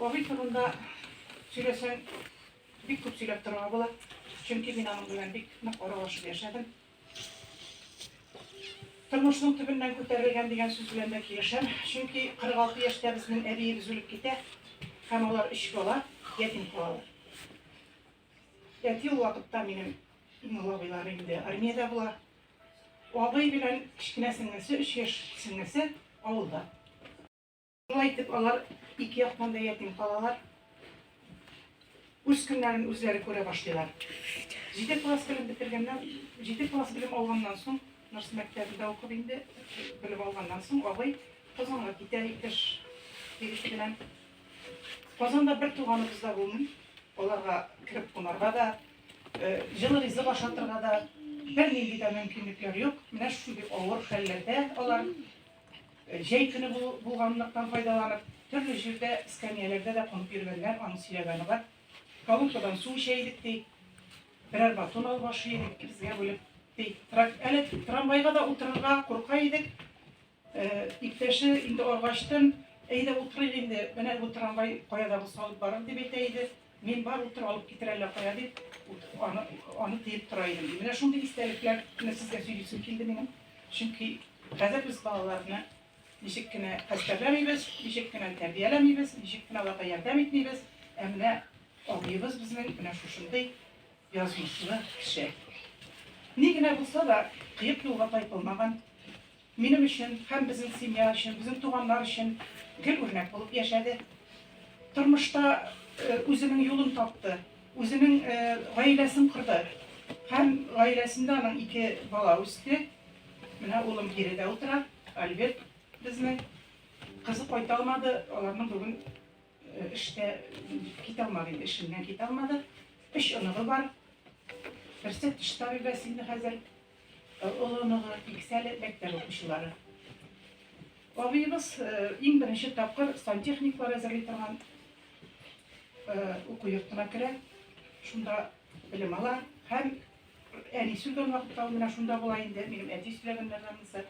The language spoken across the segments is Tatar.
Абый турында сөйләсәң, бик күп сөйләп торырга була. Чөнки мин аның белән бик нык аралашып яшәдем. Тормышның төбеннән күтәрелгән дигән сүз белән дә килешәм. Чөнки 46 яшьтә безнең әбиебез үлеп китә һәм алар өч бала ятим калалар. Әти ул вакытта минем иң олы абыйларым инде армиядә була. Абый белән кечкенә сеңлесе, өч яшь сеңлесе авылда. Шулай итеп, алар ике яктан да ятим калалар. Үз көннәрен үзләре күрә башлыйлар. Җиде класс белем бетергәннән, җиде класс белем алганнан соң, Нурс мәктәбендә укып инде, белем алганнан соң, абый Казанга китә итеш егете белән. Казанда бер туганыбыз да булмый. Аларга кереп кунарга да, җылы ризык ашатырга да бернинди дә мөмкинлекләр юк. Менә шундый авыр хәлләрдә алар. Җәй көне булганлыктан файдаланып, төрле җирдә, эскәмияләрдә дә кунып йөргәннәр, аның сөйләгәне бар. Колонкадан су эчә идек, ди. Берәр батон алып ашый идек, безгә бүлеп, ди. Әле трамвайга да утырырга курка идек. Иптәше инде аргачтын, әйдә утырыйк инде, менә бу трамвай кая да булса алып барыр, дип әйтә иде. Мин бар утыр алып китер әллә кая дип, аны, аны тыеп тора идем, ди. Менә шундый истәлекләрне сезгә сөйлисем килде минем. Чөнки хәзер без балаларны ничек кенә хәстәрләмибез, ничек кенә тәрбияләмибез, ничек кенә аларга ярдәм итмибез, ә менә абыебыз безнең менә шушындый язмышлы кеше. Ни генә булса да, кыек юлга тайпылмаган, Минем өчен һәм безнең семья өчен, безнең туганнар өчен гел үрнәк булып яшәде. Тормышта үзенең юлын тапты, үзенең гаиләсен корды. Һәм гаиләсендә аның ике бала үсте. Менә улым биредә утыра, Альберт безнең. Кызы кайта алмады, аларның бүген эштә китә алмады инде, эшеннән китә алмады. Өч оныгы бар. Берсе тыш табибәсе инде хәзер. Олоныгы, Иксәле мәктәп укучылары. Абыебыз иң беренче тапкыр сантехниклар әзерли торган уку йортына керә. Шунда белем ала һәм әнисе өлгән вакытта ул менә шунда була инде, минем әти сөйләгәннәр анысы.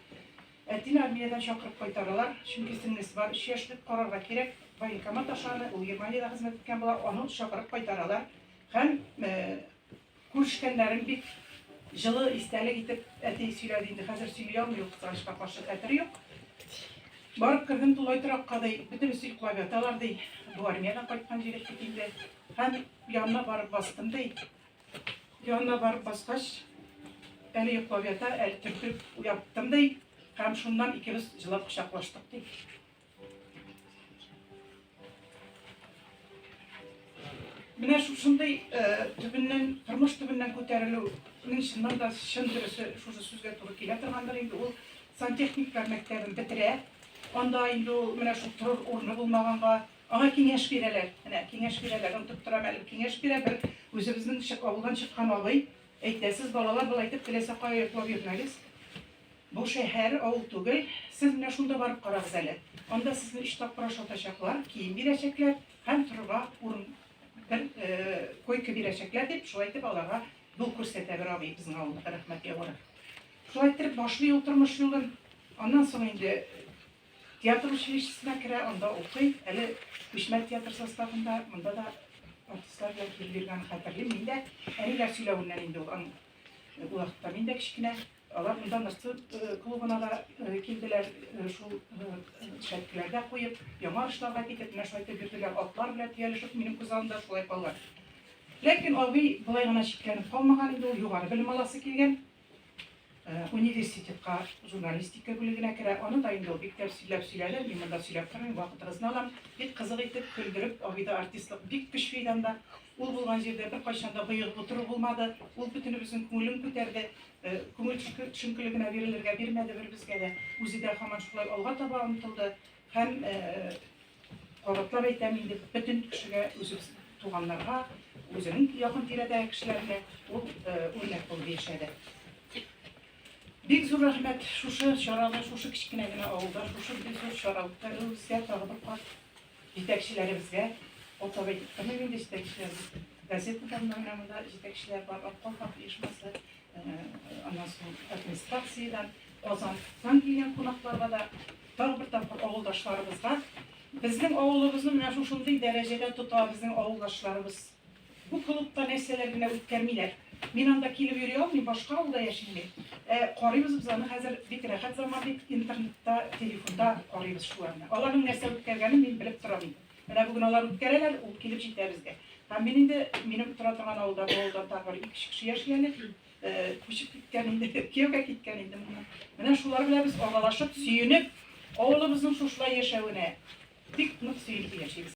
Әтине армиядән чакырып кайтаралар, чөнки сеңлесе бар, өч яшьлек карарга кирәк. Военкомат ашаны, ул Германиядә хезмәт иткән була, аны чакырып кайтаралар һәм Күрешкәннәрен бик җылы истәлек итеп әти сөйләде инде, хәзер сөйли алмый ул кызганычка каршы, хәтере юк. Барып кердем тулай торакка, ди, бөтенесе йоклап яталар, ди, бу армиядән кайткан җегет бит инде. Һәм янына барып бастым, ди. Янына барып баскач, әле йоклап ята, әле төртеп уяттым, ди. Һәм шуннан икебез җылап кочаклаштык, ди. Менә шушындый э, төбеннән, тормыш төбеннән күтәрелү, мин чыннан да чын дөресе шушы сүзгә туры килә торгандыр инде. Ул сантехниклар мәктәбен бетерә. Анда инде ул менә шул торыр урыны булмаганга, аңа киңәш бирәләр. Менә киңәш бирәләр, онтып торам әле. Киңәш бирә бер үзебезнең авылдан чыккан абый. Әйтә, сез балалар былай итеп теләсә кая йоклап йөрмәгез. Бу шәһәр, авыл түгел. Сез менә шунда барып карагыз әле. Анда сезне өч тапкыр ашатачаклар, кием бирәчәкләр һәм торырга урын бер койка бирәчәкләр дип, шулай итеп аларга юл күрсәтә бер абый безнең авылда рәхмәт яуыр. Шулай итеп башлый ул тормыш юлын. Аннан соң инде театр училищесына керә, анда укый. Әле Күчмә театр составында, монда да артистлар белән килеп йөргәнен хәтерлим. Мин дә әниләр сөйләвеннән инде ул вакытта мин дә кечкенә Алар монда Ныктыр клубына да килделәр, шул шәткеләргә куеп, яңа ашларга китеп, менә шулай итеп йөрделәр, атлар белән төялешеп, минем күз алдымда шулай калды. Ләкин абый болай гына чикләнеп калмаган инде, ул югары белем аласы килгән. Университетка журналистика бүлегенә керә, аны да инде ул бик тәп сөйләп сөйләде, мин монда сөйләп тормыйм, вакытыгызны алам, бик кызык итеп, көлдереп, абыйда артистлык бик көчле иде анда. Ул булган җирдә беркайчан да боегып утыру булмады. Ул бөтенебезнең күңелен күтәрде. Күңел төшенкелегенә бирелергә бирмәде бер безгә дә. Үзе дә һаман шулай алга таба омтылды һәм кабатлап әйтәм инде бөтен кешегә үзебез туганнарга үзенең якын тирәдәге кешеләргә ул үрнәк булып яшәде бик зур рәхмәт шушы чараны шушы кечкенә генә авылда шушы бик зур чаралыкта рәвештә тагы бер кат Җитәкчеләребезгә, атап әйтеп, кемнең инде җитәкчеләре, газетадан менә монда җитәкчеләр бар, Аткол хак оешмасы, аннан соң администрациядән, Казаннан килгән кунакларга да, тагы бер тапкыр авылдашларыбызга, безнең авылыбызны менә шушындый дәрәҗәдә тота безнең авылдашларыбыз. Бу клубта нәрсәләр генә үткәрмиләр. Мин анда килеп йөри алмыйм, башка авылда яшим мин. Ә карыйбыз без аны хәзер бик рәхәт заман бит, интернетта, телефонда карыйбыз шуларны. Аларның нәрсә үткәргәнен мин белеп торам инде. Менә бүген алар үткәрәләр, ул килеп җитә безгә. Һәм мин инде минем тора торган авылда бу авылдан тагы бер ике кеше яши әле. Күчеп киткән инде, кияүгә киткән инде моннан. Менә шулар белән без аралашып, сөенеп, авылыбызның шушылай яшәвенә бик нык сөенеп яшибез.